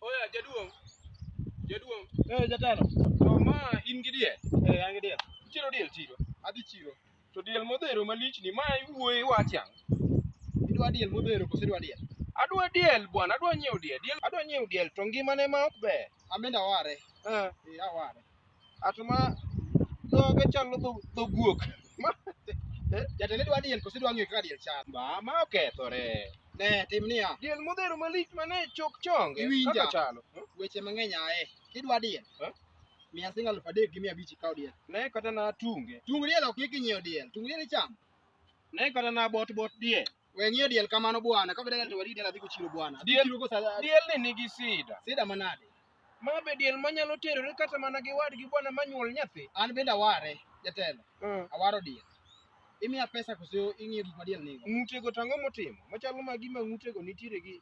Oya jaduong', jaduong', Eh, jatelo. to ma in gi diel? Eh, an gi diel. Itero diel chiro? Adhi chiro. To diel modhero malichni, ma iwuoyo iwacho ang'o? Idwa diel modhero koso idwa diel? Adwa diel bwana, adwa nyiewo diel, diel adwa nyiewo diel to ngimane ma ok ber. Amenda ware. Eh, Eh, aware. Ato ma dhoge chalo dho dho guok. Ma Jatende dwa diel koso dwa ng'eyo kaka diel chal. ba ma okethore. Ne tim niya, Diel modhero malich mane chok chonge. Iwinja. Kaka chalo. weche mang'eny aye. Kidwa diel, Eh? miya siling' alufu adek gi mia abich ikaw diel. Ne kata na tunge. Tung diel ok yik inyiewo diel. Tung diel ichamo. Ne kata na bot bot diel. We ng'iyo diel kamano bwana, ka bedala to wadi diel adhi kuchiro bwana. Adhi Diel- chiro go sa- Diel ni nigi sida. sida manade. Ma be diel manyalo terore kata mana gi wadgi bwana manyuol nyathi. An bende aware, jatelo, Mm. awaro diel. Imiya pesa koso ing'iyo gik ma diel nigo. Ng'utego tang'o motimo. Machalo ma gima ng'utego nitiere gi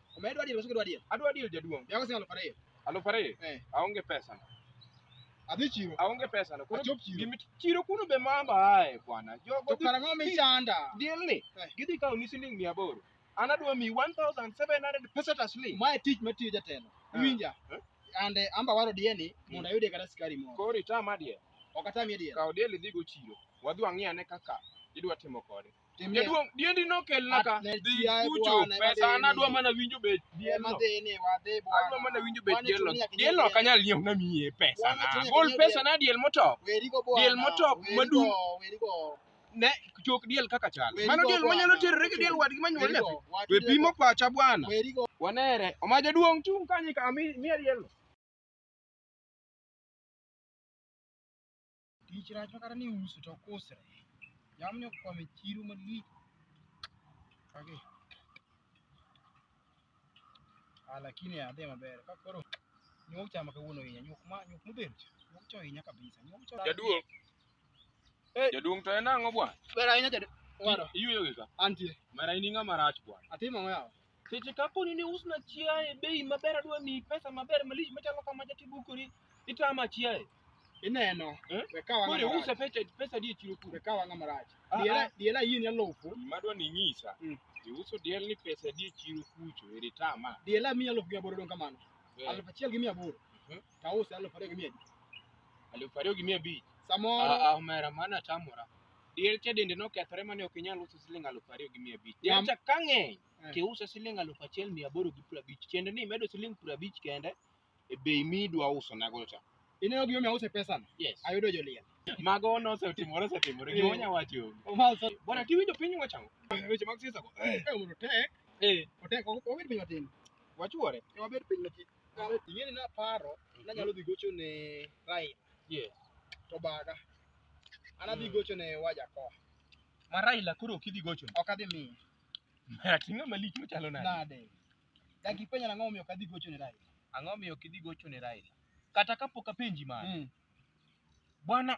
Omedo adier koso kidwa adier? Adwa deal jaduong'. Yako sing alufu ariyo. Alufu ariyo? Eh. Aonge pesa. Adhi chiro. Aonge pesa. Koro Achop chiro. Gimi chiro kuno be mamba ae bwana. Jogo To kara ng'o michanda? Deal ni. Eh. Gidhi kawo ni siling mia aboro. An adwa mi 1700 pesa taslim. Mae tich matiyo jatelo. Eh. Iwinja? Eh. Ande amba waro dieni hmm. mondo ayude kata sikari moro. Koro itama diel. Ok atami diel. Kawo diel idhi go chiro. Wadhi wang'i ane kaka idwa timo kode. Timie. Jaduong' diendi nokelna ka. Ne Dhi ji ae kucho. bwana, ema Pesa an dhi adwa ni. mana winjo bech Ema dielno. dhi ni wadhi bwana. Adwa mana winjo bech Bwana, dielno. tumia kinyonge. Dielno ok anyal nyiewo na miye pesa Bwana, na. tumia Gol kinyonge. pesa na diel motop. Werigo bwana. Diel motop Werigo, madung'. Werigo. Ne chok diel kaka chal. Werigo Mano diel bwana. manyalo terore gi diel wadgi manyuol nyathi. Werigo. Watu We pimo werigo. pacha bwana. Werigo. Wanere. Oma jaduong' chung' kanyo ka mi miya dielno. Tich rach makata ni uso to ok usre. Jamni okwamo e chiro malich. Kagi. Ah, lakini adhi maber. Ka koro nyuok chama kawuono hinya, nyuok ma nyuok modhero cha. Nyuok cho hinya kabisa. Nyuok cho. Jaduong'. Eh. Jaduong' to en ang'o bwana? Ber ahinya jadu. Waro. Iyueyo gi ka. Antie. Mara in ing'ama rach bwana. Atimo ang'o yawa? Seche kapo ni ne usna chiaye e bei maber adwa miyi pesa maber malich machalo kama jatibukori itama chiaye. Ineno. Eh? We kawa Koro ng'ama iuse rach. pesa pesa di e chiro kuro. We kawa ng'ama rach. Ah, Diela ah. diela yie ni alufu. Gima adwa ni inyisa, Mm. iuso diel ni pesa di e chiro kucho eri tama. Diela miya alufu gi aboro dong kamano. Eh, Alufu achiel gi mia aboro. Mhm. Tause alufu ariyo gi mia abich. Alufu ariyo gi mia abich. Samoro Ah, ah, omera mano atamora. Diel cha dende nokethore mane ok inyal uso siling aluf ariyo gi mia abich. Diel Nam- cha ka ng'eny Eh. tiuse siling aluf achiel mia aboro gi piero abich. Tiende ni imedo siling piero abich kende e bei midwa uso nago cha. Ineno gima omiyo ause pesano? Yes. Ayudo joliel. Mago nosetimore osetimore. Eh. Gima onya wacho onge. Omalso. Bwana tiwinjo piny wachang'o? Weche mag siasa go. Eh, mondo tek. Eh, Otek, ok wabed piny matin. wachuore. Wabed piny matin. ing'eni naparo nanyalo dhi gocho ne Raila Yeah. to baga an adhi Mm. gocho ne Wajakoya Ma Raila koro ok idhi gocho. ok adhi miye Ating'a malich machalo nade? nade dak ipenja nang'o omiyo ok adhi gocho ne Raila Ang'o miyo ok idhi gocho ne Raila? Kata kapok apenji mano. Mm. Bwana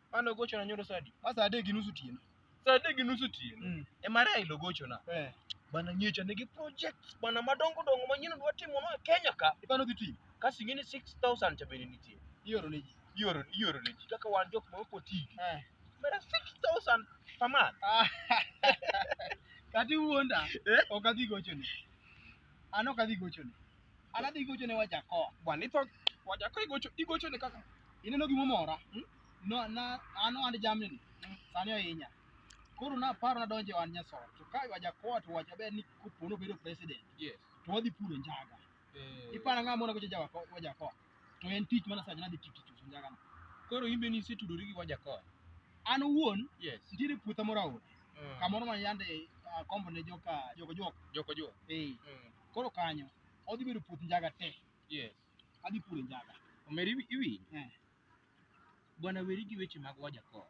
Mane ogochona nyoro saa adi? Ma saa adek gi nus otieno. Saa adek gi nus otieno. Mm. Ema Raila ogochona. Eh. Bana nyicha nigi projects bana madongo dongo manyien dwa timo no e Kenya ka. Ipano dhi timo. Kasi ing'e ni 6000 cha bende nitie. Ioro ne ji. Ioro ioro ne ji kaka wan jok ma ok oti. Eh. Mera 6000 per month. Ah. Kati wuonda. Eh? Ok adhi gochoni. An ok adhi gochoni. An adhi gocho ne Wajakoya. Bwana itho waja ko igocho igocho ne kaka Ineno gima omora? Hmm? No, na an ohand jamni ni. Sani ohinya. Koro naparo nadonjo e ohand nyasore. To ka Wajakoya to wacho ber ni kopo nobedo president yes to wadhi puro njaga. eh, Iparo ang'o mona gocho Jawako- Wajakoya? To en tich mana sacha nadhi tich tich uso njaga no. koro imbe ni isetudori gi waja ko An owuon yes nitiere puotha moro aora. Mm. Kamoro ma yande akombo ne joka joka joka. joko jo Eh. Mm. Koro kanyo odhi bedo puoth njaga te. Yes. Adhi puro njaga. Omeri iwi- iwinjo. Eh. Bwana weri gi weche mag Wajakoya.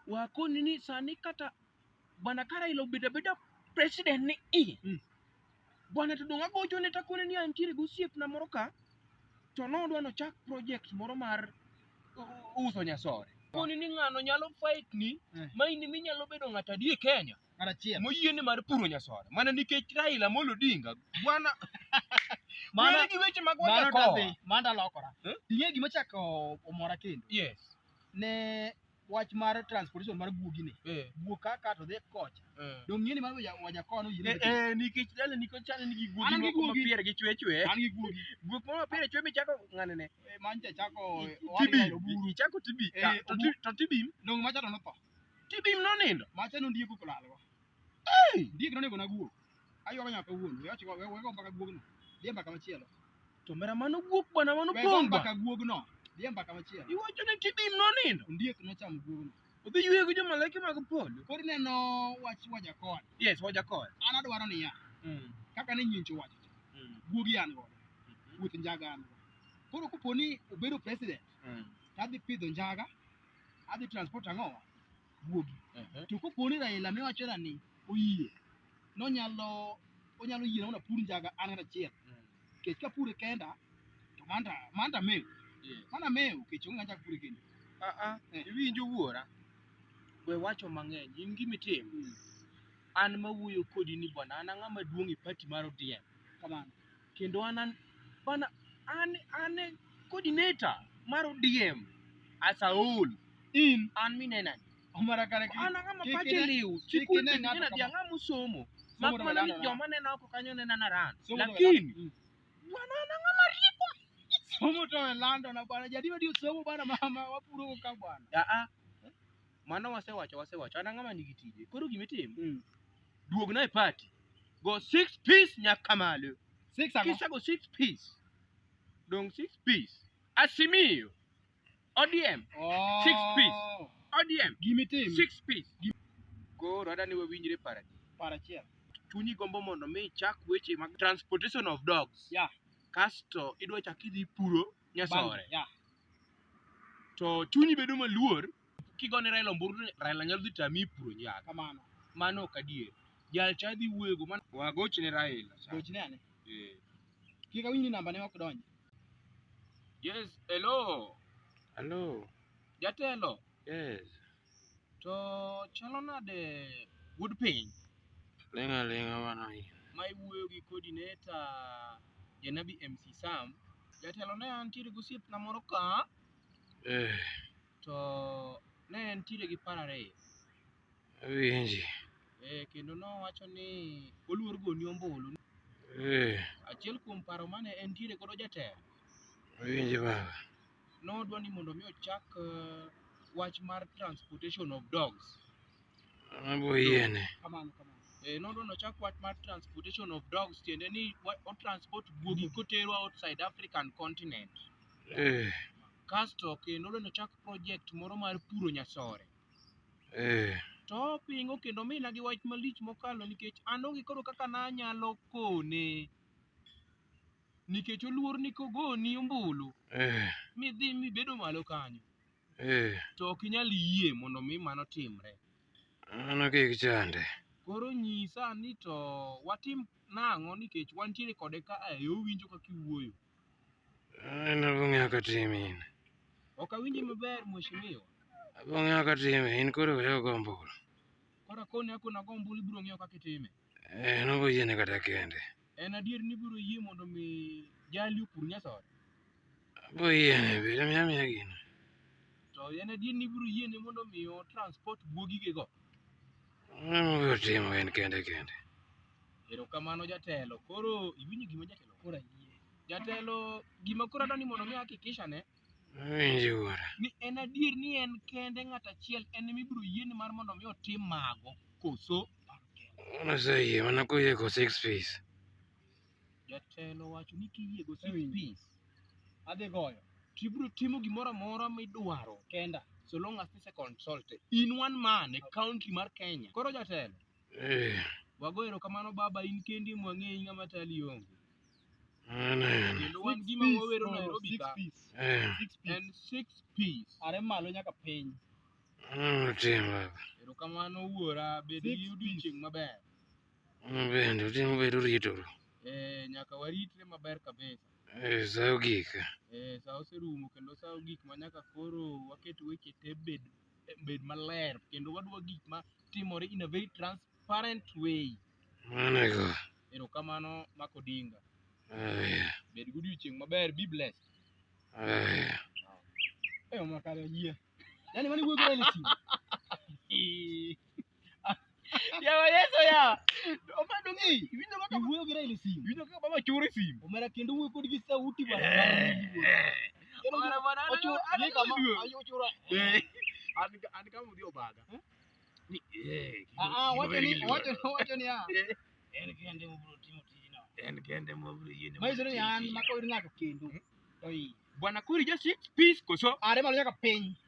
Wakoni ni sani kata bwana Karaila obedo abeda president ni i. Mm. Bwana to donga gocho ne takone ni antiere gi osiepna moro ka to nodwa nochak project moro mar u- uso nyasore. Koni ni ng'ano nyalo fight ni Eh. ma in minyalo bedo ng'at adier Kenya. Ng'at achiel. moyie ni mar puro nyasoda mana nikech Raila Amolo Odinga bwana Mano Weri gi weche mag mano wanda tadhi, koa. mano talokora. Eh? Ing'e gima chako omora kendo. yes Ne wach mar transportation mar guogi ni. eh Guok kaka to dhi kocha. eh Dong' ng'e ni mano waja- waja koa no yie. eh nikech Raila nikech chane nigi guogi An gi moko guogi. mapier gi chwe chwe An gi guogi. guok moro mapier chwe michako ng'ane ne Eh, Mano cha chako tibi owadgi oburu. ichako tibi Eh, to ti- to tibi Dong' macha to notho. Tibim nonindo. Macha nondiek okolalgo. Hey! Diek nonego naguo. Aywago nyaka wuon. We ochiko we we go mbaka guogno. Dhi mbaka machielo. To mera mano guok bwana mano We go pong' ba. mbaka guogno. Dhi mbaka machielo. Iwacho ni tibim nonindo. Ondiek nochamo guogno. Odhi yweyo gi jomalaike mag polo. Koro ineno wach Wajakoya. Yes, Wajakoya. An adwaro niya, Mm. kaka ne nyincho wacho cha, Mm. guogi an godo, puoth njaga an godo. Koro kopo ni obedo president, Mm. to adhi pidho njaga, adhi transport ang'o guogi Ehe. to kopo ni Raila ne wacho na ni oyie nonyalo onyalo yie naona pur njaga an kata achiel Mm. kech ka pure kenda to manda manda meu Yeah. mana meu kech onge ng'acha pure kendo Ah, ah, Eh. iwinjo wuora we wacho mang'eny in gimitimo an mawuoyo kodi ni bwana an ang'ama duong' e pati mar odm kamano kendo an an bana an an e coordinator mar ODM as a whole in an minena omara kare ki- an ang'ama kik pache ine- liw kik chikul ine penjo ng'ato nyathi kama- ang'ama osomo somo mak to mana ni wala- joma nena oko kanyo nena na ran somo to wala- lakini Mm. bana an ang'ama rieko somo to e lando na bwana jadi wadi somo bwana mama wapuro go ka bwana aa mano wasewacho wasewacho an ang'ama nigi tije koro gimitimo duogna e party go six piece nyaka malo Six ang'o? kisego six piece dong six piece asimiyo odm Oh. Six piece. odm Gimitim. six piece koro ada ni wawinjre paradi Para achiel. chunyi gombo mondo mi ichak weche mag transportation of dogs Yeah. kasto idwa chak idhi puro Bang- nyasore Yeah. to chunyi bedo maluor kigone Raila omburu to Raila nyalo dhi tami puro nyaga. Kamano. Mano ok adier. Jal cha dhi wuego mano. Wagochne Raila. cha. Gochne ane. Eh. Kik awinj ni namba ne ok donjo. Yes, hello. Hello. Jatelo, Yes. to chalo nade wuod piny Lenga lenga wana hii. ma iwuoyo gi coordinator Janabi MC Sam? Jatelo ne antiere gosiepna moro ka Eh. to ne entiere gi paro ariyo Awinji. eh, kendo nowacho ni oluor goni ombulu Eh, achiel kuom paro mane entiere godo jatelo awinji baba. nodwa ni mondo mi ochak eh, wach mar transportation of dogs Abo yiene. kamano kamano eh, nodwa ni ochak wach mar transportation of dogs tiende ni wa- otransport guogi koterwa outside african continent Eh, Kasto kendo ne ochak project moro mar puro nyasore. Eh. To opingo kendo omina gi wach malich mokalo nikech an onge koro kaka nanyalo kone. Nikech oluor ni kogoni ombulu Eh. midhi mibedo malo kanyo Eh. to ok inyal yie mondo mi mano timre. Mano kik chande. Koro nyisa ni to watim nang'o nikech wantiere kode ka a e owinjo kaka iwuoyo. En abong'eyo ka tim in. Ok awinji maber mheshimiwa. Abong'eyo ka tim in koro weyo go ombulu. Koro koni ako nago ombulu ibiro ng'eyo kaka itime. Eh, nobo yiene kata kende. En adier ni ibiro yie mondo mi jali opur nyasore. Abo yiene biro miya miya gino. To en adier ni ibiro yiene mondo mi o transport guogige go. Mano obiro timo en kende kende. Erokamano jatelo. Koro iwinjo gima jatelo koro ayie. Jatelo gima koro adwani mondo mi hakikisha ne Awinjo wuora. ni en adier ni en kende ng'at achiel en ema ibiro yiene mar mondo mi otim mago koso paro kende. Mano oseyie mana koyie ko six piece. Jatelo wacho ni kiyie go six Awinjo. piece Adhi goyo. to ibiro timo gimoro amora midwaro Kenda. so long as this is consulted in one man e county mar Kenya. Koro jatelo Eh, Wago erokamano Baba, in kendi mwang'eyi ng'ama tali onge. mano en. Kendo wan gima wawero Nairobi ka Eh, en six piece. Are malo nyaka piny. mano otim baba. Erokamano wuora, bed gi odiochieng' maber. Mano bende otim bedo ritoro. Eh, nyaka waritre maber kabisa. Eh, sa ogik. Eh, sa oserumo kendo sa ogik ma nyaka koro waket weche te bed bed maler kendo wadwa gik ma timore in a very transparent way Manego. erokamano mak odinga Aya. bed godiochieng' maber be blessed Aya. eyo makare yie yani mani wuoyo kore ni simu Yawa Yesu yawa. Omado ng'i. Iwinjo kaka iwuoyo gi Raila e simu. Iwinjo kaka baba choro e simu. Omera kendo wuoyo kodi gi sauti bana. Omera bana. Ochoro ni kama ayo ochoro. An an kama mudhi obaga. Ni eh. Ah ah wacho ni wacho wacho ni ah. En kende mubro timo tijino. En kende mubro yini. Maisero ni an mako ir ng'ato kendo. Oi. Bwana Kuri just peace koso. Are malo nyaka piny.